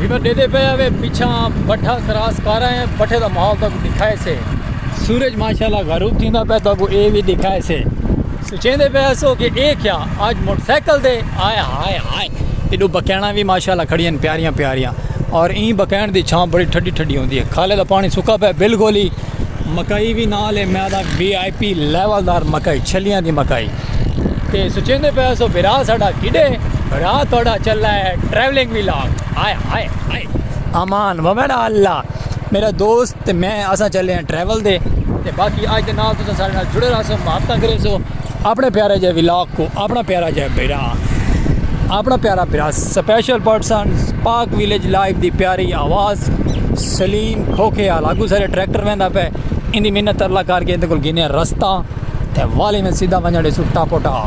River ڈیدے پہ آوے پیچھاں بٹھا کراس کر آئے ہیں بٹھے دا محال تاکو دکھائے سے سورج ماشاءاللہ غروب تھی دا پہ تاکو اے بھی دکھائے سے سوچیں دے پہ ایسو کہ اے کیا آج موٹر سیکل دے آئے ہائے ہائے ایڈو بکینہ بھی ماشاءاللہ کھڑی ہیں پیاریاں پیاریاں اور این بکین دی چھاں بڑی ٹھڈی ٹھڈی ہوں دی ہے کھالے دا پانی سکا پہ بالکل ہی مکائی بھی نہ لے میں دا بی آئی پی لیول دار مکائی چھلیاں دی مکائی تے سچیندے پے سو بھرا ساڈا کیڈے بھرا تہاڈا چلا ہے travelling vlog hi hi ہائے امان ومن اللہ میرا دوست تے میں اسا چلے ہیں ٹریول دے تے باقی اج دے نال تسا سارے نال جڑے رہا سو محبت کرے سو اپنے پیارے جے ولاگ کو اپنا پیارا جے بھرا اپنا پیارا بھرا special person Pak village life دی پیاری آواز سلیم کھوکھے آ لاگو سارے ٹریکٹر ویندا پے اندی محنت اللہ کر کے اندے کول گینے رستہ تے والی میں سیدھا ونجڑ دے سوٹا پوٹا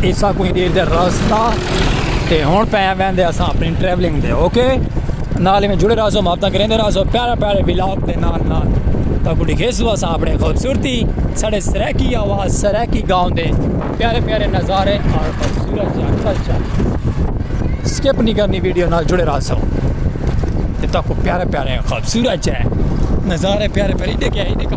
ایسا کوئی دیر دے راستہ تے ہون پہ آویں دے اساں اپنی ٹریولنگ دے اوکے نالے میں جڑے رہو ماپتا کریں دے رہو پیارے پیارے ولاگ دے نال نال تا کو ڈکھے سو اساں اپنے خوبصورتی سڑے سریکی آواز سریکی گاؤں دے پیارے پیارے نظارے اور خوبصورت جا کلچر سکپ نہیں کرنی ویڈیو نال جڑے رہو سو تا کو پیارے پیارے خوبصورت جا نظارے پیارے پیارے دیکھے ہی دیکھے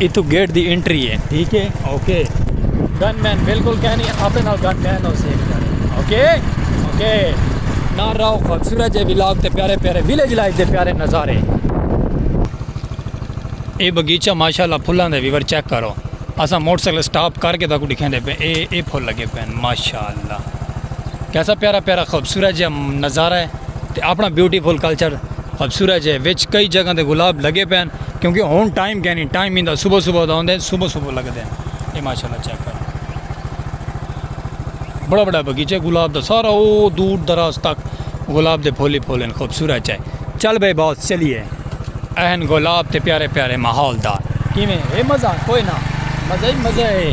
اتھوں گیٹ دی انٹری ہے ٹھیک ہے اوکے گن مین بالکل کہہ نہیں اپنے نال گن مین ہو سی اوکے اوکے نہ رہو خوبصورت جے ولاگ تے پیارے پیارے ویلیج لائف دے پیارے نظارے اے بغیچہ ماشاءاللہ پھلاں دے ویور چیک کرو اسا موٹر سائیکل سٹاپ کر کے تاکو دکھیں دے پے اے اے پھول لگے پے ماشاءاللہ کیسا پیارا پیارا خوبصورت جے نظارہ ہے تے اپنا بیوٹیفل کلچر خوبصورت جے وچ کئی جگہ دے گلاب لگے پے کیونکہ ہن ٹائم کینی ٹائم ایندا صبح صبح دا ہوندے صبح صبح لگدے اے ماشاءاللہ چیک کرو بڑا بڑا بگیچہ گلاب دا سارا او دور دراز تک گلاب دے پھول ہی پھول ہیں خوبصورت چے چل بھائی باس چلیے اہن گلاب تے پیارے پیارے ماحول دا کیویں اے مزہ کوئی نہ مزہ ہی مزہ ہے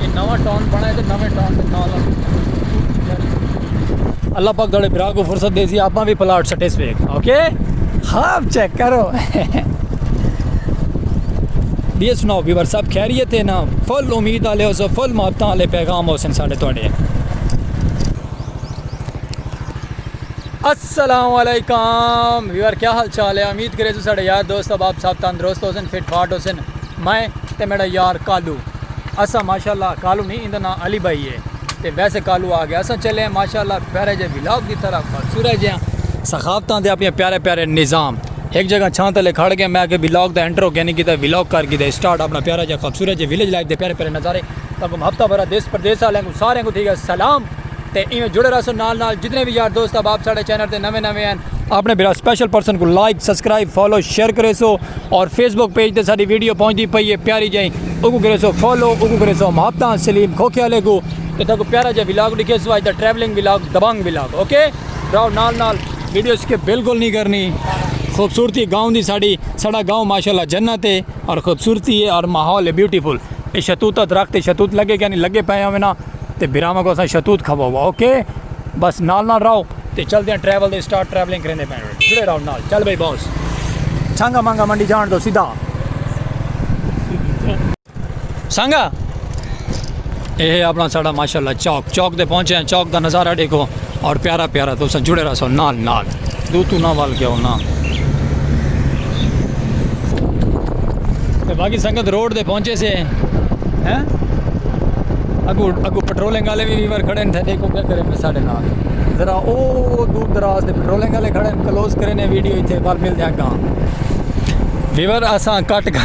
اے نواں ٹاؤن بنڑائے تے نویں ٹاؤن دے نال نال سکول وی تیار کیتے۔ اللہ پاک تہاڈے بھرا کوں فرصت ڈیسی آپاں وی پلاٹ سٹیس ویکھ اوکے خواب چیک کرو۔ بیئے سناؤ بیور صاحب خیریت ہے نا فل امید آلے ہو سو فل محبتاں آلے پیغام ہو سن ساڈے تہاڈے۔ السلام علیکم ویور کیا حال چال ہے امید کرے سو ساڈے یار دوست احباب صاحب تندرست ہو سن فٹ فاٹ ہو سن۔ میں تے میݙا یار کالو اساں ماشاء اللہ کالو نہیں ایندا ناں علی بھائی ہے تے ویسے کالو آ گیا اساں چلے ہیں ماشاء اللہ پیارے جے ولاگ دی طرف سورہ جیاں ثقافتاں دے اپنے پیارے پیارے نظام ایک جگہ چھاں تلے کھڑ گئے میں کہ ولاگ دا انٹرو کیا نہیں کیتا ولاگ کر کیتا سٹارٹ اپنا پیارا جا خوبصورت جے ویلیج لائف دے پیارے پیارے نظارے تاکہ ہفتہ بھرا دیس پردیس والے کو سارے کو تھی گا سلام تے ایویں جڑے رہسو نال نال جتنے وی یار دوست احباب ساڈے چینل تے نویں نویں ہن اپنے بھرا سپیشل پرسن کوں لائک سبسکرائب فالو شیئر کریسو اور فیس بک پیج تے ساڈی ویڈیو پہنچدی پئی ہے پیاری جئی اوکوں کریسو فالو اوکوں کریسو محبتاں سلیم کھوکھے آلے کوں تے تہاکوں پیارا جیا ولاگ ڈکھیسو اج دا ٹریولنگ ولاگ دبنگ ولاگ اوکے براؤ نال نال ویڈیو سکپ بالکل نی کرنی خوبصورتی گاؤں دی ساڈی ساڈا گاؤں ماشاءاللہ جنت ہے اور خوبصورتی ہے اور ماحول ہے بیوٹیفل اے شتوتہ درخت اے شتوت لگے کینی لگے پئے ہووے نا تے بھراواں کوں اساں شتوت کھواوا اوکے بس نال نال راہو تے چل دیاں ٹریول دے سٹارٹ ٹریولنگ کریندے پین جڑے راہو نال چل بھائی باس سانگا مانگا منڈی جان دو سیدھا سانگا اے اپنا ساڑا ماشاءاللہ چوک چوک دے پہنچے ہیں چوک دا نظارہ دیکھو اور پیارا پیارا تو سن جڑے رسو نال نال دو تو نہ وال کیا ہونا تے باقی سنگت روڈ دے پہنچے سے ہیں اگو اگو پٹرولنگ والے بھی ویور کھڑے تھے دیکھو کیا کرے میں ساڑھے نال ذرا او دور دراز دے پٹرولنگ والے کھڑے کلوز کرے نے ویڈیو ایتھے بار مل دیا گا ویور اساں کٹ گا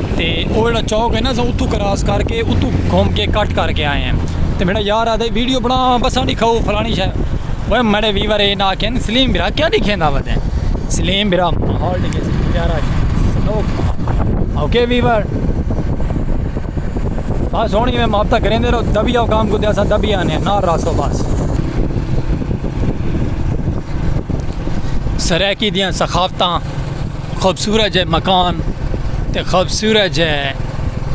تے او جیڑا چوک ہے نا اساں اتھوں کراس کر کے اتھوں گھوم کے کٹ کر کے آئے ہیں تے میڈا یار آکھدا ہے ویڈیو بنا بساں ڈکھاؤ فلانی شے اوئے میڈے ویور اے نا آکھن سلیم برا کیا ڈکھیندا پیا تیں سلیم برا ماحول ڈکھے سی پیارا شے اوکے ویور بس ہونی میں مابتا کریں دے رہو دبی آو کام کو دیا سا دبی آنے نا راسو بس سریکی دیاں سخافتاں خوبصورت جے مکان تے خوبصورت جے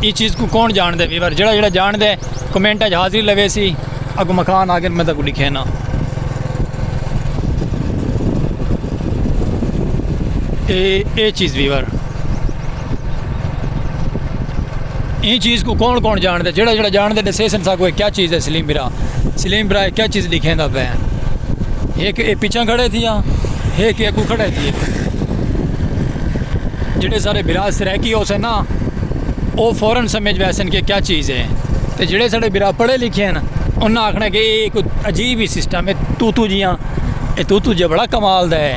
ای چیز کو کون جان دے ویور جڑا جڑا جان دے کمنٹ اج حاضری لوے سی اگو مکان آگے میں تک لکھے نا اے اے چیز ویور این چیز کو کون کون جان دے جڑا جڑا جان دے دسے سن ساکو کیا چیز ہے سلیم برا سلیم برا کیا چیز لکھیں دا پہ ایک اے پیچھا کھڑے تھی ہاں ایک اے کو کھڑے تھی جڑے سارے برا سریکی ہو سے نا او فورن سمجھ ویسن کہ کیا چیز ہے تے جڑے سارے برا پڑھے لکھے ہیں انہاں آکھنا کہ اے کوئی عجیب ہی سسٹم ہے تو تو جیاں اے تو تو جبڑا کمال دا ہے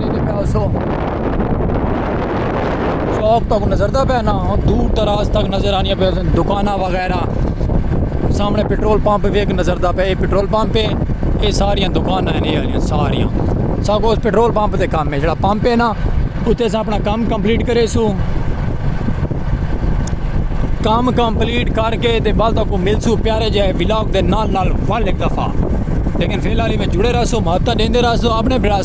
ڈیندے پئے آسو۔ چوک تک نظر دا پئے نا دور دراز تک نظر آنی پئے سن دکاناں وغیرہ سامنے پٹرول پمپ وی اک نظر دا پئے پٹرول پمپ ہے اے ساریاں دکاناں ہیں ایالیاں ساریاں ساکو پٹرول پمپ تے کام ہے جڑا پمپ ہے نا اتے اساں اپنا کام کمپلیٹ کرے سو کام کمپلیٹ کر کے تے بعد کو مل سو پیارے جائے ولاگ دے نال نال ول ایک دفعہ لیکن فی الحال میں جڑے رہسو ماتا دیندے رہسو اپنے برا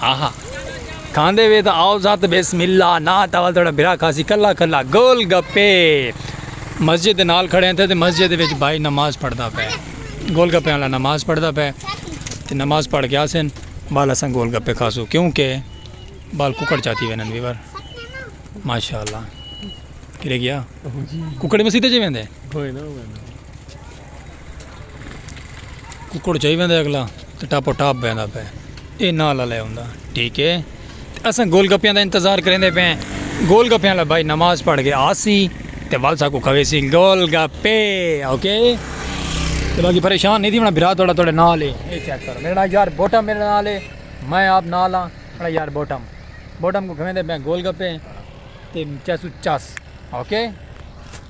آہا کھاندے وے تاں آؤ ذات بسم اللہ نا تاول تھوڑا بھرا کھاسی کلا کلا گول گپے مسجد دے نال کھڑے ہیں تے مسجد دے وچ بھائی نماز پڑھدا پے گول گپے والا نماز پڑھدا پے تے نماز پڑھ کے آسن بال اساں گول گپے کھاسو کیونکہ بال ککڑ چاتی وینن ویور ماشاءاللہ کلے گیا ککڑ مسیتے جے ویندے ککڑ چاہی ویندا اگلا تے ٹاپو ٹاپ بیندا پے اے نال والے ہوندا ٹھیک ہے تے اساں گول گپیاں دا انتظار کریندے پے گول گپیاں والا بھائی نماز پڑھ کے آسی تے ول ساکو کھوے سی گول گپے اوکے تے باقی پریشان نہیں تھی ہونا بھرا تھوڑا تھوڑے نال ہے اے چیک کرو میرے نال یار بوٹم میرے نال ہے میں آپ نال ہاں میرا یار بوٹم بوٹم کو کھویندے پے گول گپے تے چیسو چس اوکے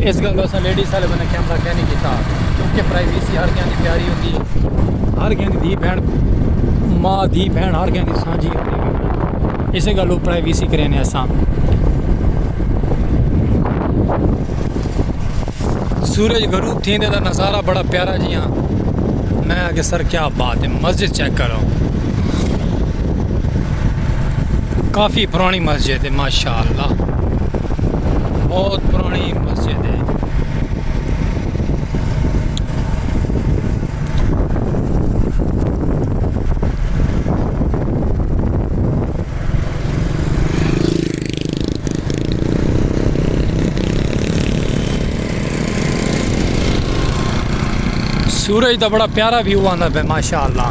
اس گل دا اساں لیڈیز سارے بندے کیم دا خیال نہیں کیتا کیونکہ پرائیویسی ہر کہیں دی پیاری ہوندی ہے ہر کہیں دی دھی بہن ماں دھی بہن ہر کہیں دی سانجھی ہوندی ہے اس گل لو پرائیویسی کرے نے اساں سورج غروب تھیں دے دا نظارہ بڑا پیارا جی ہاں میں آگے سر کیا بات ہے مسجد چیک کرو کافی پرانی مسجد ہے ماشاء ماشاءاللہ بہت پرانی مسجد ہے سورج دا بڑا پیارا ویو آندا پہ ماشاءاللہ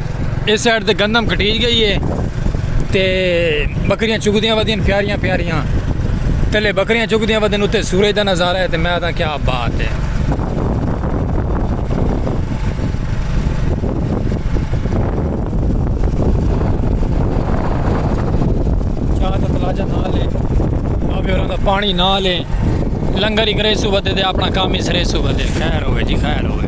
اس سائیڈ تے گندم کٹیج گئی ہے تے بکریاں چگدیاں ودیاں پیاریاں پیاریاں تلے بکریاں چگدیاں ودن اتے سورج دا نظارہ ہے تے میں آتا کیا بات ہے چاہ دا تلاجہ نہ لے بابے اور دا پانی نہ لے لنگر ہی کرے سو بدے دے اپنا کام ہی سرے سو بدے خیر ہوئے جی خیر ہوئے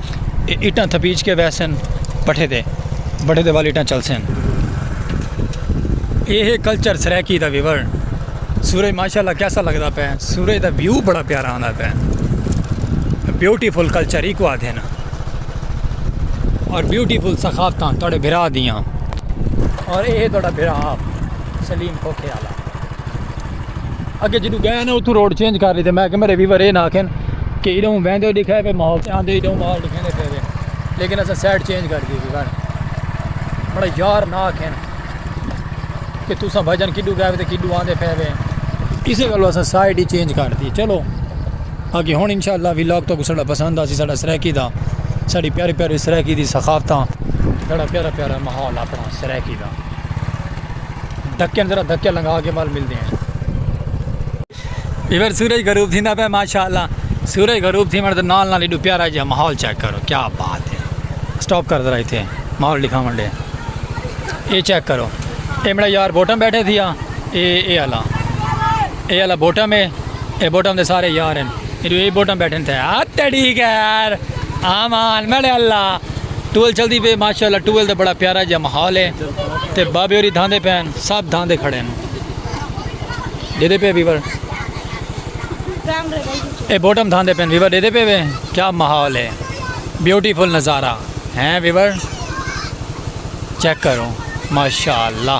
اٹاں تھپیج کے ویسن پٹھے دے بٹھے دے وال اٹاں چلسن اے ہے کلچر سرائیکی دا ویور سورج ماشاءاللہ کیسا لگدا پے سورج دا ویو بڑا پیارا آندا پے بیوٹیفل کلچر ایکو آدھے نا اور بیوٹیفل ثقافتاں تھوڑے بھرا دیاں اور اے ہے تھوڑا بھرا آپ سلیم کھوکھے والا اگے جدو گئے نا اتو روڈ چینج کر لی تے میں کہ میرے ویور اے نہ آکھن کہ ایڈو ویندے دکھے پہ ماحول تے آندے ایڈو مال دکھے دے پہ لیکن اسا سائیڈ چینج کر دی گن بڑا یار نہ آکھن کہ تسا بھجن کڈو گئے تے کڈو آندے پہ وے اسے گلو اسا سائیڈ ہی چینج کر دی چلو اگے ہن انشاءاللہ ویلاگ تو سڑا پسند آسی سڑا سرائیکی دا سڑی پیارے پیارے سرائیکی دی ثقافتاں سڑا پیارا پیارا ماحول اپنا سرائیکی دا ڈھکن ذرا دھکے لنگھا کے ول ملدے ہیں۔ ایور سورج غروب تھیندا پئے ماشاءاللہ سورج غروب تھیوݨ دے نال نال ایڈو پیارا جیہا ماحول چیک کرو کیا بات ہے سٹاپ کر ذرا ایتھے ماحول ڈکھاوݨ ݙے اے چیک کرو اے میݙا یار بوٹم بیٹھے تھیا اے اے آلا اے آلا بوٹم ہے اے بوٹم دے سارے یار ہیں ایڈو اے بوٹم بیٹھن تھے آ تڑی گیر آمان میڈے اللہ ٹول چل دی پہ ماشاءاللہ ٹول دے بڑا پیارا جا محال ہے تے بابے اوری دھاندے پہ ہیں سب دھاندے کھڑے ہیں دے دے پہ بیور اے بوٹم دھاندے پہ ہیں بیور دے دے پہ ہیں کیا محال ہے بیوٹیفل نظارہ ہیں بیور چیک کرو ماشاءاللہ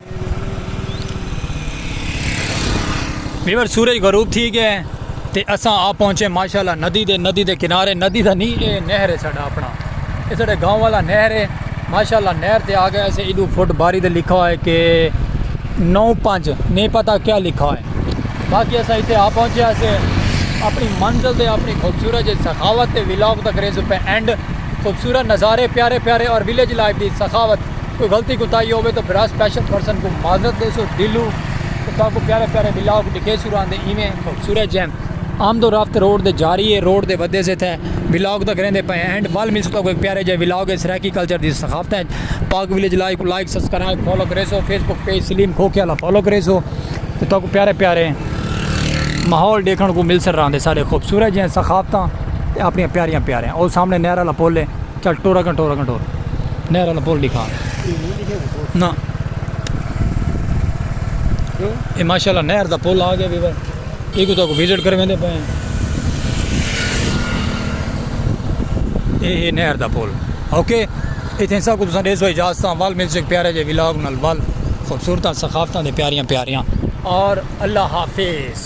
ویور سورج غروب تھی گیا ہے تو اساں آ پہنچے ماشاء اللہ ندی دے ندی دے کنارے ندی دا نہیں اے نہر ہے ساڈا اپنا یہ ساڈے گاؤں والا نہر ہے ماشاء اللہ نہر تے آ گئے اسے ادو فٹ باری دے لکھا ہوئے کہ نو پانچ نہیں پتا کیا لکھا ہوئے باقی اسا اتنے آ پہنچے اسے اپنی منزل دے اپنی خوبصورت جی سخاوت تے ولاگ تک ریز پہ اینڈ خوبصورت نظارے پیارے پیارے اور ویلیج لائف دی سخاوت کوئی غلطی کوتاہی ہووے تو برا سپیشل پرسن کو معذرت دے سو دلو تو تاں کو پیارے پیارے ولاگ ڈکھے سو راندے ایویں خوبصورت جیم آمد و رفت روڈ دے جاری ہے روڈ دے ودے سے تھے ولاگ دا کریندے پے اینڈ ول مل سو تاں کو ایک پیارے جے ولاگ ہے سرائیکی کلچر دی ثقافت ہے پاک ویلیج لائک کو لائک سبسکرائب فالو کرے سو فیس بک پیج سلیم کھوکھے والا فالو کرے سو تو تاں کو پیارے پیارے ماحول ڈیکھن کو مل سر راندے سارے خوبصورت جے ثقافتاں اپنی پیاریاں پیاریاں او سامنے نہر والا پل ہے چل ٹور اگن ٹور اگن ٹور نہر والا پل دکھا نا یہ ماشاءاللہ نہر دا پل آ گیا بھی بھائی ایک تو کو وزٹ کر ویندے پے اے نہر دا پل اوکے اتنے سب کو تساں دے سو اجازت وال مل سک پیارے جے ولاگ نال وال خوبصورت ثقافتاں دے پیاریاں پیاریاں اور اللہ حافظ